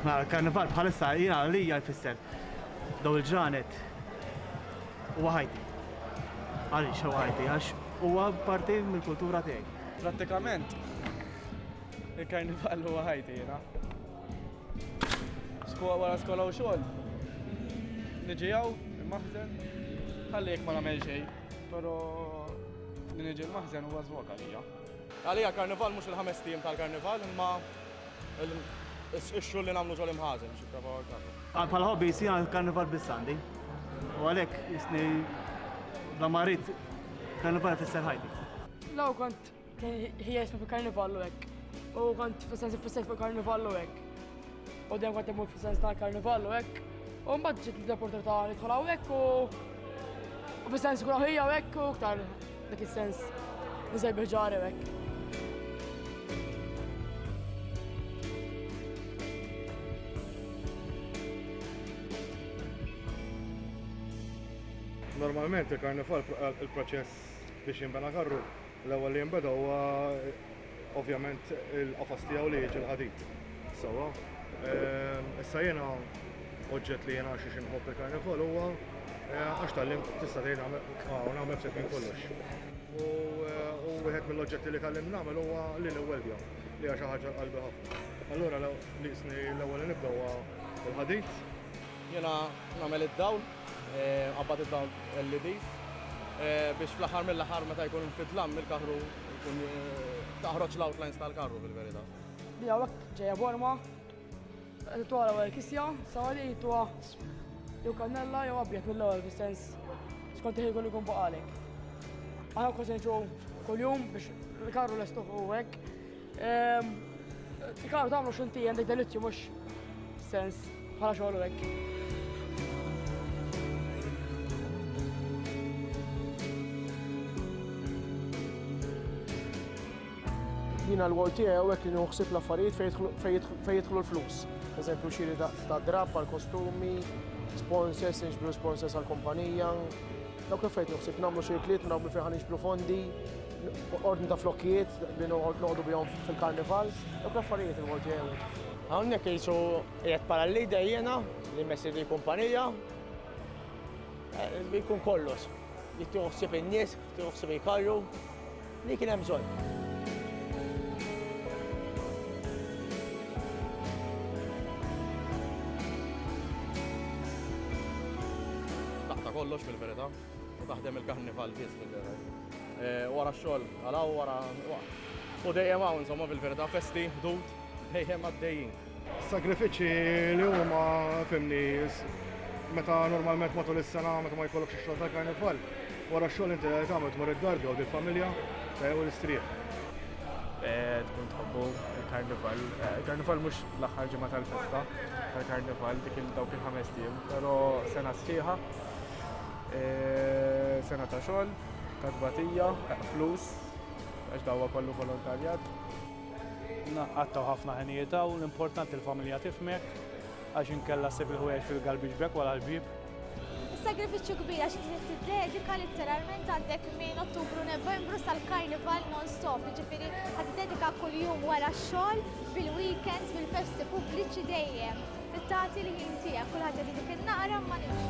Aħna l-karnival bħalissa jina li jfisser daw il-ġranet u ħajti. Għalli xew ħajti, għax u parti mill-kultura tiegħi. Pratikament, il-karnival u ħajti jina. Skola wara skola u xogħol. Niġi hawn il-maħżen, ħalli jekk ma nagħmel xejn, però li niġi l-maħżen huwa żwog għalija. Għalija karnival mhux il-ħames tim tal-karnival imma ix-xogħol li nagħmlu ġol imħażen xi prova għal Bħal hobby jsir karnival biss għandi. U għalhekk jisni la marit karnival fisser ħajti. Law kont Ħija jisma fi karnivallu hekk. U kont fis-sensi fis fi karnivallu hekk. U dejjem kont imur fis-sens ta' karnivallu hekk. U mbagħad ġiet l-opportunità li dħol hawnhekk u u fis-sens kull ħija hekk u ktar dak is-sens niżel biġari hekk. Normalment il-karnival il-proċess biex jinbena karru L-ewwel li jinbeda huwa ovvjament il-qafas tiegħu li jiġi l-ħadid. Sewwa. Issa jiena oġġett li jiena għax xi nħobb il-karnival huwa għax tgħallimt tista' tgħid nagħmel nagħmel ftit minn kollox. U wieħed mill-oġġetti li tgħallimt nagħmel huwa li niweldja li hija xi ħaġa l-qalbi ħafna. Allura nieqsni l-ewwel li nibda huwa l-ħadid. Jiena nagħmel id-dawl Qabad id-dawl LEDs biex fl-aħħar mill-aħħar meta jkun fid-dlam il-karru jkun taħroġ l-outlines tal-karru fil-verità. Li hawnhekk ġejja forma, tuha l-ewwel kisja, sawa li tuha jew kannella jew abjad mill-ewwel fis-sens skont il-ħin kollu jkun baqalek. Aħna kważi nġu kuljum biex il-karru lestuħ u hekk Tikaw tagħmlu x'inti għandek delizzju mhux sens bħala xogħol hekk. jina l-għol tiegħu hekk li nħuħsib l-affarijiet fejn jidħlu l-flus. Eżempju xiri ta' drab għal kostumi, sponsors, nġbru sponsors għal kumpanija. Dawk l-affarijiet nħuħsib nagħmlu xirkliet, nagħmlu fejn nġbru fondi, ordni ta' flokkijiet li noqogħdu bihom fil-karnival, u l-affarijiet il Malti għew. Hawnhekk jisu qiegħed bħala l-leader jiena li messi li kumpanija. Eh, jkun kollox. Jittieħu ħsieb in-nies, jittieħu ħsieb il-karru, li kien hemm bżonn. kollox fil-verità. Taħdem il-karnival biss fil-vera. Eh, wara xogħol, għalaw wara. U dejjem hawn insomma fil-verità festi, ħdud, dejjem għaddejjin. Sagrifiċċji li huma fimni meta normalment matul is-sena meta ma jkollokx ix-xogħol tal-karnival, wara xogħol inti tagħmel tmur id-dar jew il-familja eh, u l-istrieħ. Eh, tkun tħobbu il-karnival. Il-karnival mhux l-aħħar ġimgħa tal-festa tal-karnival dik il-dawk il-ħames tim, però sena sħiħa e, sena ta' xogħol, katbatija, flus, għax dawwa kollu volontarjat. Għattaw ħafna ħenijiet u l-importanti l-familja tifmek għax inkella sib il-ħwejjeġ fil-galbiġ bek wara l-bib. Is-sagrifiċċju kbir għax trid tiddedika letteralment għandek minn Ottubru Novembru sal-Karnival non-stop, jiġifieri ħad tiddedika kuljum wara x-xogħol, bil-weekends, bil-festi pubbliċi dejjem. Trid tagħti l-ħin tiegħek, kulħadd jagħti dik in-naqra imma nimxu.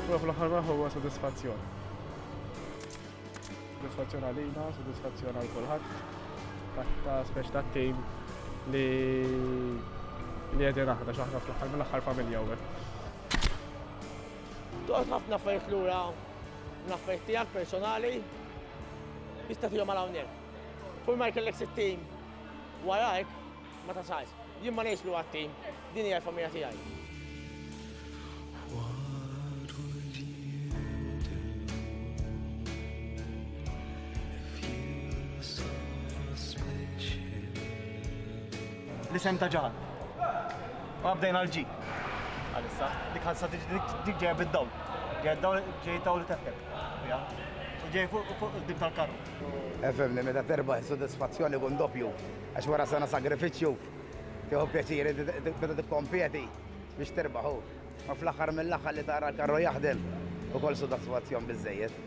Huwa fl-aħħar raħ huwa sodisfazzjon. Sodisfazzjon għalina, sodisfazzjon għal kulħadd. Ta' speċ ta' tim li li għedin aħna xaħna fl-aħħar mill-aħħar familja u Toqgħod ħafna fejt lura L-affarijiet tiegħek personali tista' tihom għal hawnhekk. Kull ma jkellek sit-tim warajk ma tasalx. Jien ma ngħidx li huwa tim, din hija l-familja tiegħi. L-isem ta' ġahal. Ma bdejna l-ġi. Għalissa, dik ħassa dik ġeja bid-dawl. Ġeja dawl ġej dawl teftek. U ġej fuq fuq dim tal-karru. Efemni, meta terba s-sodisfazzjoni kun doppju, għax wara sena sagrifiċċju, tieħu pjaċiri meta tikkompjeti biex terbaħu. Ma fl-aħħar mill-aħħar li tara l-karru jaħdem ukoll sodisfazzjon biżżejjed.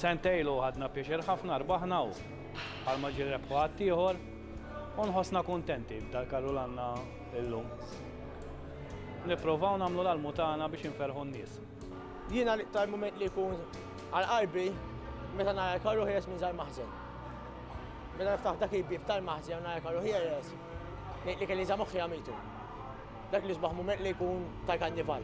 Sentejn ilu ħadna pjaċir ħafna rbaħna u bħalma ġie rebħu ħaddieħor. U nħossna kuntenti b'dal-karru l-għandna illum. Nipprovaw nagħmlu l-almu tagħna biex inferħu n-nies. Jiena l-iktar mument li jkun għal qalbi meta nara l-karru ħieles minn dal-maħżen. Meta niftaħ dak il-bieb tal-maħżen u nara l-karru ħieles, ngħid li kelli za moħħi għamitu. Dak l-isbaħ mument li jkun ta' kannival.